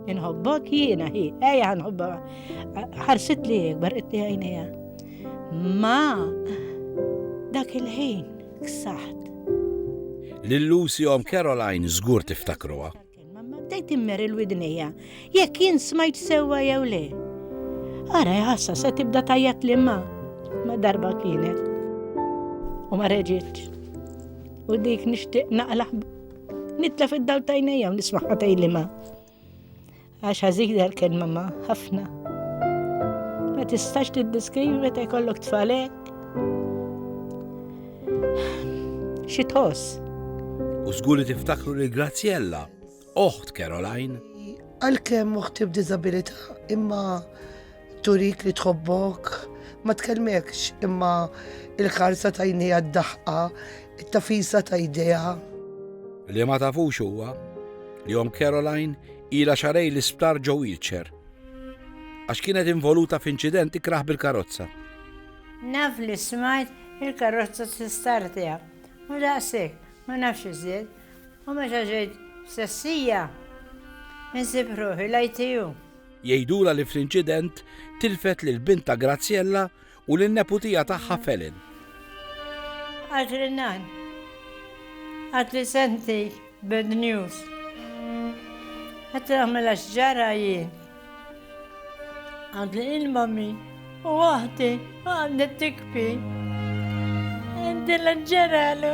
Inħobbok jiena hi, ejja nħobba. Ħarsit li jekbar qed għajnejha. Ma dak il-ħin ksaħt. Lil Lucy om Caroline żgur tiftakruha. Bdejt immer il-widnija, jekk jien smajt sewwa jew le. Ara jħassa se tibda tajjat li ma ma darba kienet. U ma reġitx. U dik nixtieq naqlaħ Nitla fid-dawl tajnejja u nismaħqa tejlima. Għax ħażina l-kelma ma ħafna. Ma tistax tiddiskrivi meta jkollok tfalek. Xi tħoss? U żgur li tiftakru li Graziella, oħt Caroline. Għalkemm oħti b'diżabilità, imma Turik li tħobbok, ma tkellmekx imma il-ħarsa ta' jnejha d-daħqa, it-tafisa ta' jdejha. Li ma tafux huwa li Omm Caroline ilha xarej l-isptar ġo wheelchair għax kienet involuta f'inċident ikrah bil-karozza. Naf li smajt il-karozza t-istar tiegħha u daqshekk ma nafx iżjed u meta ġejt f'sessija insib ruħi l-ITU. Jgħidulha li fl-inċident tilfet lil bintha Graziella u lin-neputija tagħha Felin. Għad li nan. Għad li senti bad news. Għad li għamela xġara jien. Għad li il-mami u għahti għad li tikpi. Għad li l-ġeralu.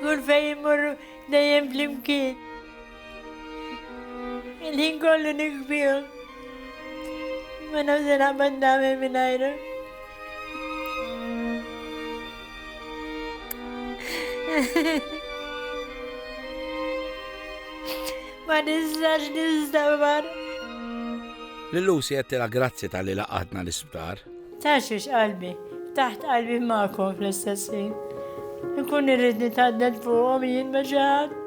Kull fejn immur dejjem flimkien. Il-ħin kollu nikbihom. Ma nafx se naqbad nagħmel mingħajru. Ma nistax nistabar. Lil Lucy qed tilha grazzi tal-li laqatna l-isptar. Tgħaxxix qalbi, ftaħt qalbi magħkom fl-istess ħin. Inkun irrid nitgħaddel fuqhom jien ma' xi ħadd.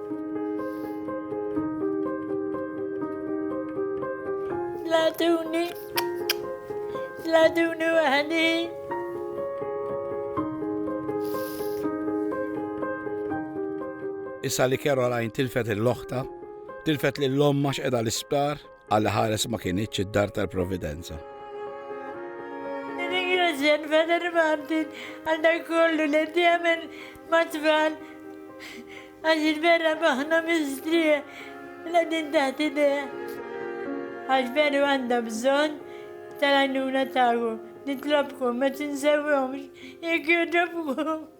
Tlatuni, tlatuni waħdi. Issa li Caroline tilfet il-loħta, tilfet lil omma x'qeda l-isptar, Alla ħares ma kinitx id-dar tal-providenza. Ringrazzjan Father Martin għal dak kollu li jagħmel mat-tfal għax il-vera maħna mistrieħ la din taħt idejh. Għax veru għandha bżonn tal-għajnuna tagħkom. Nitlobkom ma tinsewhomx jekk jogħġobkom.